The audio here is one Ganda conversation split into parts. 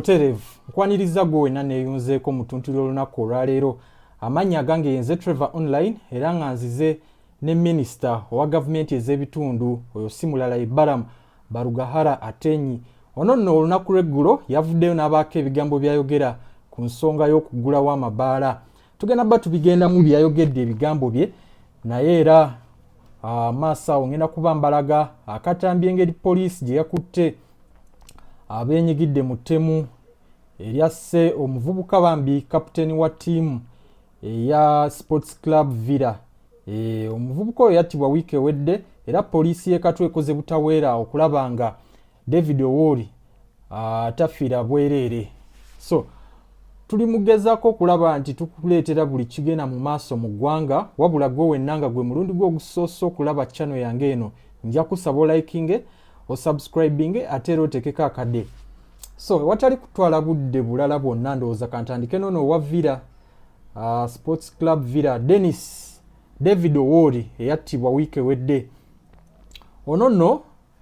butereevu nkwanirizza gwe wenna neeyunzeeko mu ttuntu ly'olunaku olwaleero amannya agange yenze trevor online era nga nzize ne minisita owa gavumenti ez'ebitundu oyo si mulala ye baramu barugahara atenyi ono nno olunaku lw'eggulo yavuddeyo n'abaako ebigambo byayogera ku nsonga y'okuggulawo amabaala tugenda ba tubigendamu byeyayogedde ebigambo bye naye era amaaso ah, awo ngenda kuba mbalaga akatambi engeri poliisi gye yakutte abenyigidde mu ttemu eryasse omuvubuka bambi kapiteeni wa ttiimu eya sports club villa e, omuvubuka oyo yattibwa wiiki ewedde era poliisi y'ekatwe ekoze butaweera okulaba nga david owori atafiira bwereere so tuli mugezako okulaba nti tukuleetera buli kigenda mu maaso mu ggwanga wabula gwe wenna nga gwe mulundi gwe ogusoose okulaba chano yange eno nja kusaba olayikinge like osubscribinge ate era otekeko akade so ewatali kutwala budde bulala bwonna ndowooza kantandike nono owa villa uh, sports club villa denis david owori eyattibwa wiiki ewedde ono nno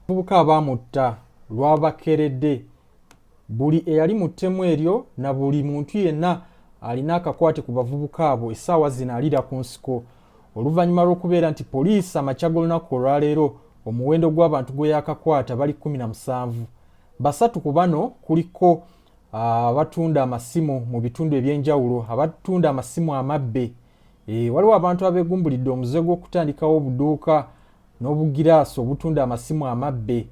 abavubuka abaamutta lwabakeredde buli eyali mu ttemu eryo na buli muntu yenna alina akakwate ku bavubuka abo essaawa zino alira ku nsiko Oluvannyuma lw'okubeera nti poliisi amakya g'olunaku olwaleero omuwendo gw'abantu gwe yaakakwata bali kkumi na musanvu, basatu ku bano kuliko abatunda amasimu mu bitundu eby'enjawulo, abatunda amasimu amabbe. E, waliwo abantu abeegumbulidde omuze gw'okutandikawo obuduuka n'obugiraasi obutunda amasimu amabbe.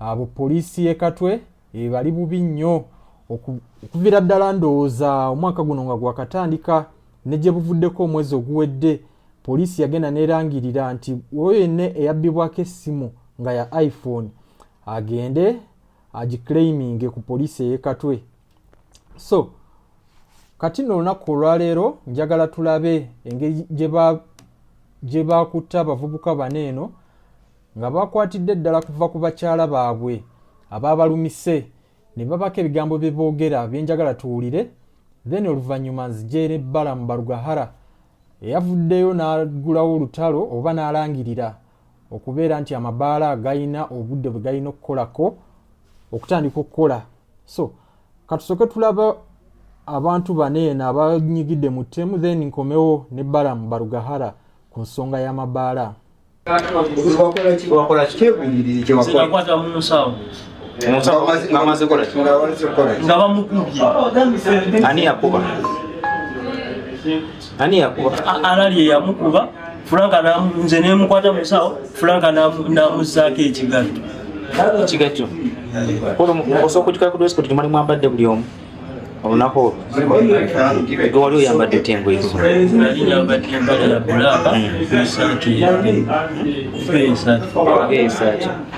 Abo poliisi y'e Katwe e, bali bubi nnyo okuvira ddala ndowooza omwaka guno nga gwakatandika ne gye buvuddeko omwezi oguwedde poliisi yagenda nerangirira nti oyo yenna eyabbibwako essimu nga ya iphone agende agiclaiminge ku poliisi eyekatwe so kati no olunaku olwaleero njagala tulabe engeri gye bakutta abavubuka bano eno nga baakwatidde ddala kuva ku bakyala baabwe abaabalumise ne babako ebigambo bye boogera bye njagala tuwulire then oluvannyuma nzijeera ebbala mu barugahara eyavuddeyo n'aggulawo olutalo oba n'alangirira okubeera nti amabaala galina obudde bwe galina okukolako okutandika okukola so katusoke tulaba abantu bana eno abanyigidde mu ttemu then nkomewo ne balamu barugahara ku nsonga y'amabaala nga bamukubye ani yakuba alali eyamukuba franka nze nemukwata musawo franka namuzaako ekigatto ekigatto osobola okujukira ku dress code gyemwali mwambadde buli omu olunaku olwo wali oyambadde otya engoye esaati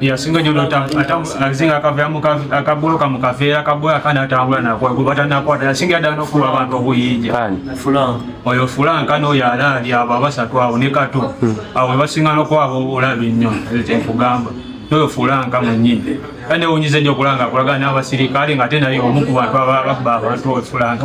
yasinga nyo atazinga akaveamu akaboloka mu kaveera kaboya kana atambula nakwatanakwata yasinga yadala nokuba abantu obuyinja oyo fulanka noyo alaali abo abasatu awo ne kato hmm. awo webasinga nokwaba obulabi nnyo kyenkugamba noyo fulanka mwenyini kanewunyiza nyo okulanga akulagana n'abasirikale nga ate naye omu ku bantu ababba abantu oyo fulanka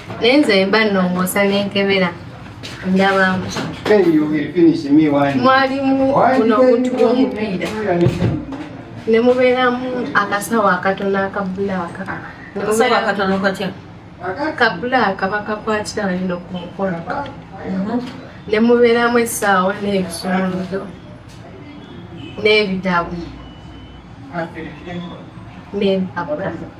naye nze mba nnongoosa nenkebera ndabamu mwalimu buno obuntu bw'omupiira ne mubeeramu akasawo akatono akabulaaka kabulaaka bakakwatira balino ku mukono mhm. ne mubeeramu essaawo n'ebisumuluzo n'ebitabo n'ebitabo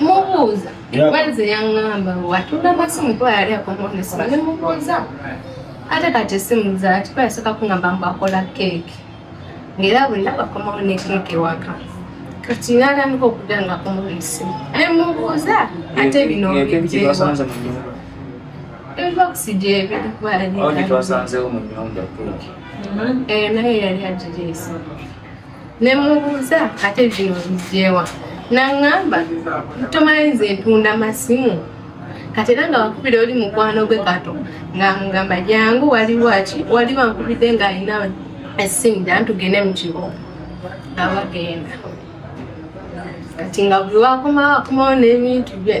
mubuuza wenze yaŋŋamba watunda masimu kuba yali akomonesima ne mubuuza ate kati esimu zaati kuba yasooka kuŋŋamba mbu akola keeki ng'era bonna bakomawo ne keeki ewaka kati natandika okuda nga akomawo esimu ne mubuuza ate bino bijeewa ebibokisi gyebiri kuba yali naye yali agireesa ne mubuuza ate bino bijeewa naŋŋamba tomanyi nze ntunda masimu kati era nga wakubira oli mukwano gwe kato nga mugamba jangu waliwo ki waliwo ankubidde ng'alina essimu da ntugende mu kibo nga bagenda kati nga buli wakomawo akomawo n'ebintu bye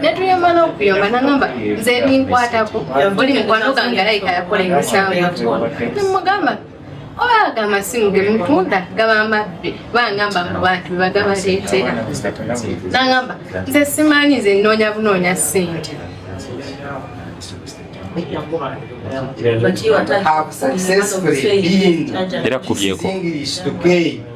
netuyomba nokuyomba nangamba nze binkwatako oli mukwano gange alayika yakola emisango nemugamba oba ga masimu ge mutunda gaba mabbi bangamba mu bantu bebagabaleetera nangamba nze simanyi nze nnoonya bunoonya ssente era kubyeko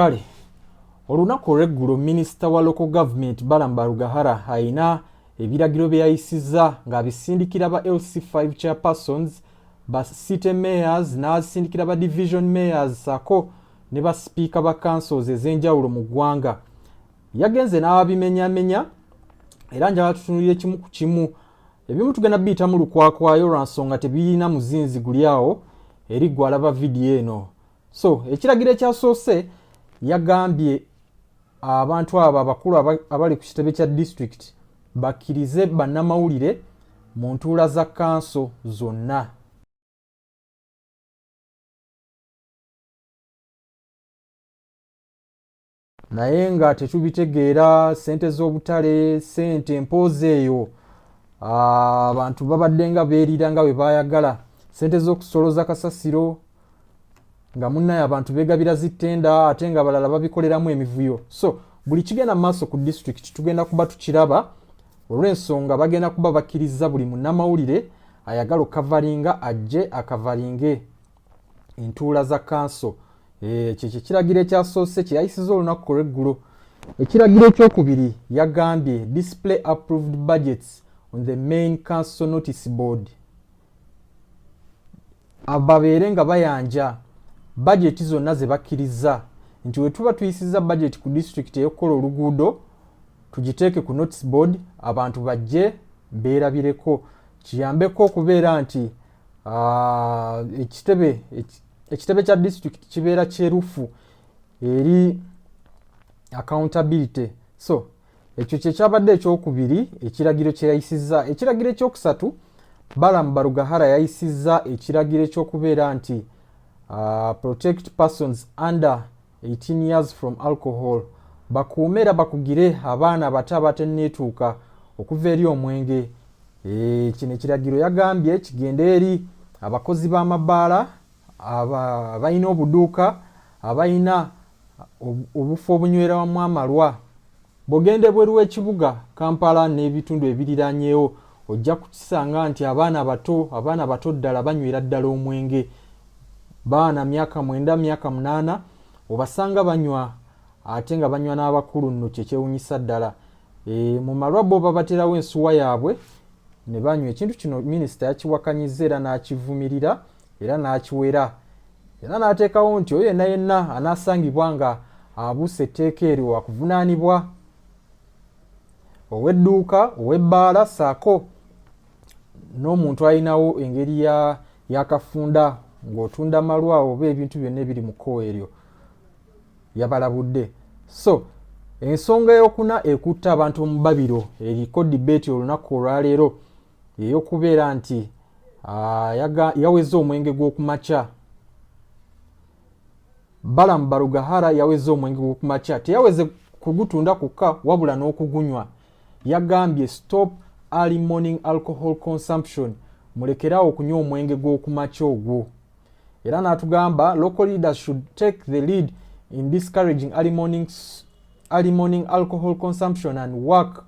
kale olunaku olweggulo minisita wa local government balam barugahara alina ebiragiro bye yayisizza ng'abisindikira ba lc5 chairpersons ba city mayors n'azisindikira ba division mayors saako ne ba sipiika ba councils ez'enjawulo mu ggwanga yagenze n'ababimenyamenya era njala tutunulira ekimu ku kimu ebimu tugenda biyitamu lukwakwayo lwa nsonga tebirina muzinzi guli awo eri gwe alaba vidiyo eno so ekiragiro ekyasoose yagambye abantu abo abakulu abali ku kitebe kya disitulikiti bakkirize bannamawulire mu ntuula za kanso zonna naye nga tetubitegeera sente z'obutale sente mpoozi eyo ah, abantu babadde nga beerira nga bwe baayagala sente z'okusoloza kasasiro nga munnaye abantu beegabira zittenda ate nga balala babikoleramu emivuyo so buli kigenda mu maaso ku disitulikiti tugenda kuba tukiraba olw'ensonga bagenda kuba bakkiriza buli munnamawulire ayagala okukavalinga ajje akavalinge entuula za kanso eh, ekyo kyekiragiro ekyasoose kyeyayisiza olunaku ku lweggulo ekiragiro ekyokubiri yagambye display approved budgets on the main council notice board babeere nga bayanja bajeti zonna ze bakkiriza nti we tuba tuyisiza bajeti ku disitulikiti eyokukola oluguudo tugiteeke ku notice board abantu bajje beerabireko kiyambeko okubeera nti Ah, ekitebe ekitebe kya district kibeera kyerufu eri accountability so ekyo kyekyabadde ekyokubiri ekiragiro kyeyayisiza ekiragiro ekyokusatu balamu barugahara yayisiza ekiragiro ekyokubeera nti uh, protect persons under 18 years from alcohol bakuume era bakugire abaana abato abateneetuuka okuva eri omwenge eh, kino ekiragiro yagambye kigende eri abakozi b'amabaala abalina obuduuka abalina obufo obunywerawamu amalwa Bw'ogenda ebweru w'ekibuga Kampala n'ebitundu ebiriraanyeewo ojja kukisanga nti abaana bato abaana bato ddala banywera ddala omwenge. Baana myaka mwenda myaka munaana obasanga banywa ate nga banywa n'abakulu nno kye kyewunyisa ddala. E, mu malwa bo babaterawo ensuwa yaabwe ne banywa. Ekintu kino minisita yakiwakanyizza era n'akivumirira era n'akiwera era n'ateekawo nti oyo yenna yenna anaasangibwa nga abuusa etteeka eryo wakuvunaanibwa ow'edduuka ow'ebbaala saako n'omuntu alinawo engeri yakafunda ng'otunda malwa oba ebintu byonna ebiri mu kkowa eryo yabalabudde so ensonga eyokuna ekutta abantu mu babiro eriko dibeeti olunaku olwaleero eyokubeera nti uh, yaweza omwenge gw'okumakya balamu barugahara yaweza omwenge gw'okumakya teyaweze kugutunda kukka wabula n'okugunywa yagambye stop early morning alcohol consumption mulekeraawo okunywa omwenge gw'okumakya ogwo era n'atugamba local leaders should take the lead in discouraging early morning, early morning alcohol consumption and work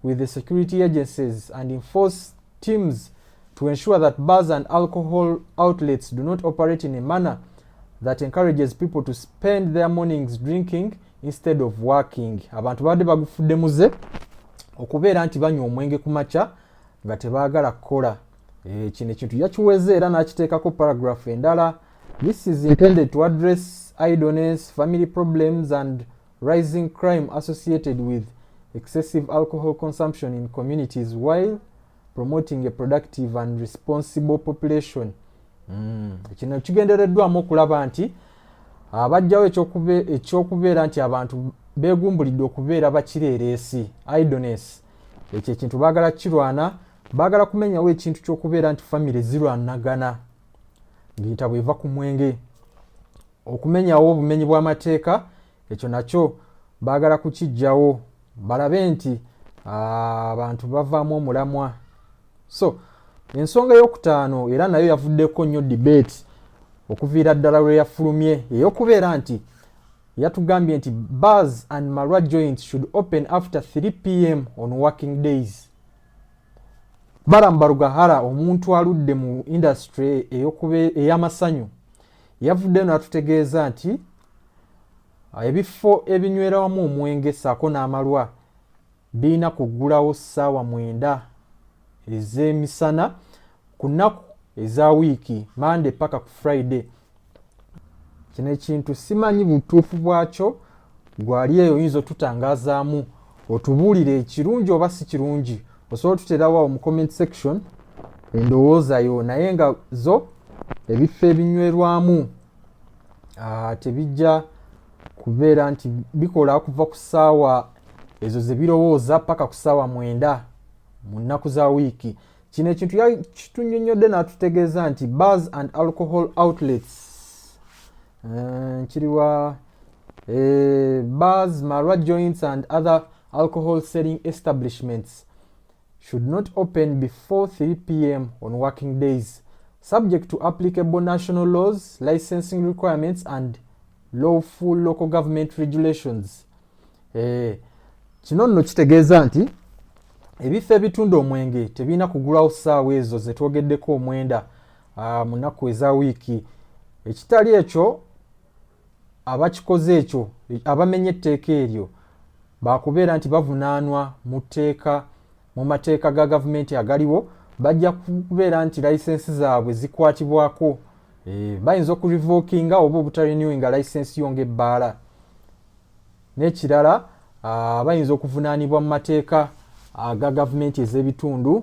with the security agencies and enforce teams to ensure that bars and alcohol outlets do not operate in a manner that encourages people to spend their mornings drinking instead of working abantu babadde bagufudde muze okubeera nti banywa omwenge ku makya nga tebaagala kukola eh, kino ekintu yakiweze era n'akiteekako paragraph endala this is intended to address idleness family problems and rising crime associated with excessive alcohol consumption in communities while promoting a productive and responsible population mm. kino kigendereddwamu okulaba nti abajjawo ekyokubeera nti abantu begumbulidde okubeera bakireereesi idones ekyo ekintu baagala kirwana baagala kumenyawo ekintu kyokubeera nti famiry zirwanagana ng'entabwe eva ku mwenge okumenyawo obumenyi bw'amateeka ekyo nakyo baagala kukijjawo balabe nti ah, abantu bavaamu omulamwa so ensonga eyokutaano era nayo yavuddeko nnyo debate okuviira ddala lwe yafulumye eyokubeera nti yatugambye nti bars and malwa joints should open after 3 pm on working days baramu barugahara omuntu aludde mu industry ey'amasanyu Yavuddeyo n'atutegeeza nti ebifo ebinywera wamu omwenge ssaako n'amalwa birina kuggulawo ssaawa mwenda ez'emisana ku nnaku eza wiiki mande paka ku friday kino ekintu simanyi butuufu bwakyo gwali eyo oyinza otutangazaamu otubuulire ekirungi oba si kirungi osobola otuterawo mu comment section endowoozayo naye nga zo ebifo ebinywerwamu ah, tebijja kubeera nti bikola kuva ku ssaawa ezo ze birowooza paka ku ssaawa mwenda mu nnaku za wiiki kino ekintu kitunyonyodde n'atutegeeza nti bars and alcohol outlets eh, nkiriwa eh, bars marwa joints and other Alcohol selling establishments should not open before 3 pm on working days subject to applicable national laws, licensing requirements and lawful local government regulations. Eh, kino nno kitegeeza nti ebifo ebitunda omwenge tebirina kugulawo ssaawa ezo ze twogeddeko omwenda ah, mu nnaku eza wiiki ekitali ekyo abakikoze ekyo abamenye etteeka eryo baakubeera nti bavunaanwa mu tteeka mu mateeka ga gavumenti agaliwo bajja kubeera nti layisensi zaabwe zikwatibwako eh, bayinza okurevokinga oba obutarenewinga layisensi yo ngaebbaala n'ekirala ah, bayinza okuvunaanibwa mu mateeka aga gavumenti ez'ebitundu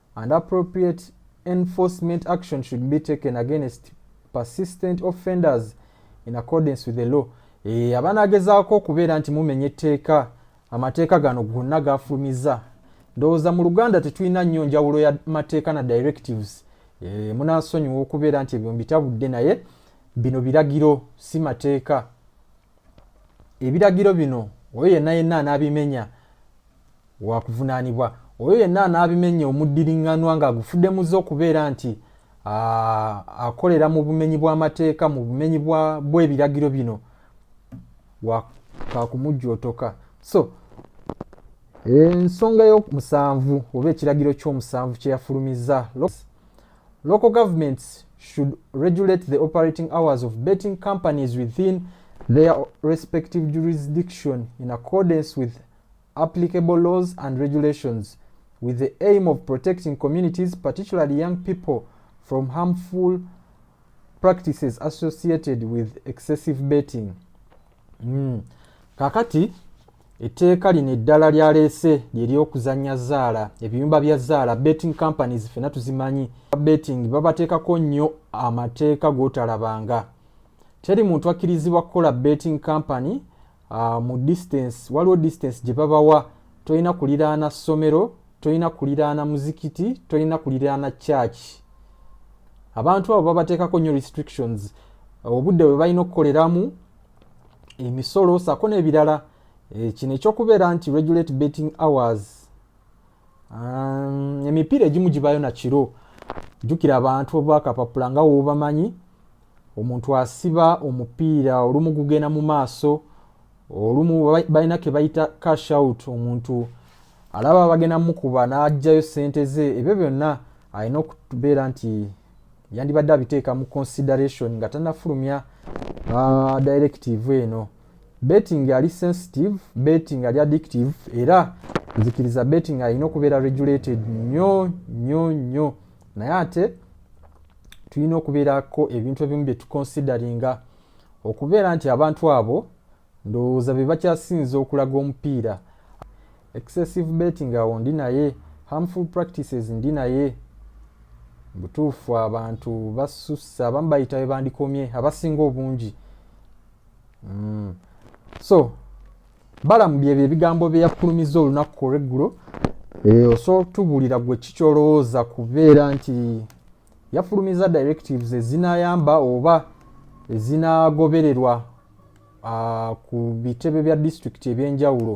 and appropriate enforcement action should be taken against persistent offenders in accordance with the law e, abanagezaako okubeera nti mumenya etteeka amateeka gano gonna gafumiza ndowooza mu luganda tetulina nnyo njawulo ya mateeka na directives e, munasonyiwa okubeera nti ebyo mbitabudde naye bino biragiro si mateeka ebiragiro bino oyo yenna yenna anaabimenya Wakuvunaanibwa oyo yenna anaabimenya omuddiriŋŋanwa ng'agufudde muze okubeera nti akolera mu bumenyi bw'amateeka mu bumenyi bw'ebiragiro bino kakumujjootoka so ensonga y'omusanvu oba ekiragiro ky'omusanvu kye yafulumizza local governments should regulate the operating hours of betting companies within their respective jurisdiction in accordance with applicable laws and regulations with the aim of protecting communities, particularly young people, from harmful practices associated with excessive betting. Mm. Kakati, etteeka lino eddala lyaleese lyeryokuzannya zaala ebiyumba bya zaala betting companies fena tuzimanyi betting babateekako nnyo amateeka gotalabanga teri muntu akkirizibwa kukola betting company uh, mu distance waliwo distance gye babawa tolina kuliraana ssomero tolina kuliraana muzikiti tolina kuliraana church abantu abo babateekako nnyo restrictions obudde bwe balina okukoleramu emisolo saako n'ebirala eh, kino ekyokubeera nti regulate betting hours Um, emipiira egimu gibayo nakiro jukira abantu obakapapula nga wobamanyi omuntu asiba omupiira olumu gugenda mu maaso olumu balina kebayita cash out omuntu alaba bagenda mukuba najjayo sente ze ebyo byonna alina okubeera nti yandibadde abiteeka mu consideration nga tanafulumya uh, directive eno betting ali sensitive betting ali addictive era nzikiriza betting alina okubeera regulated nyo nyo nyo naye ate tulina okubeerako ebintu ebimu byetuconsideringa okubeera nti abantu abo Ndowooza be bakyasinze okulaga omupiira. Excessive betting awo ndi naye, harmful practices ndi naye. Butuufu abantu basusse, abamu bayita we bandikomye abasinga obungi. Mm. So balamu byebyo ebigambo bye yafulumizza olunaku olweggulo. Eh, osobola okutubuulira gwe ki kyolowooza kubeera nti yafulumiza directives ezinayamba oba ezinagobererwa uh, ku bitebe bya disitulikiti ebyenjawulo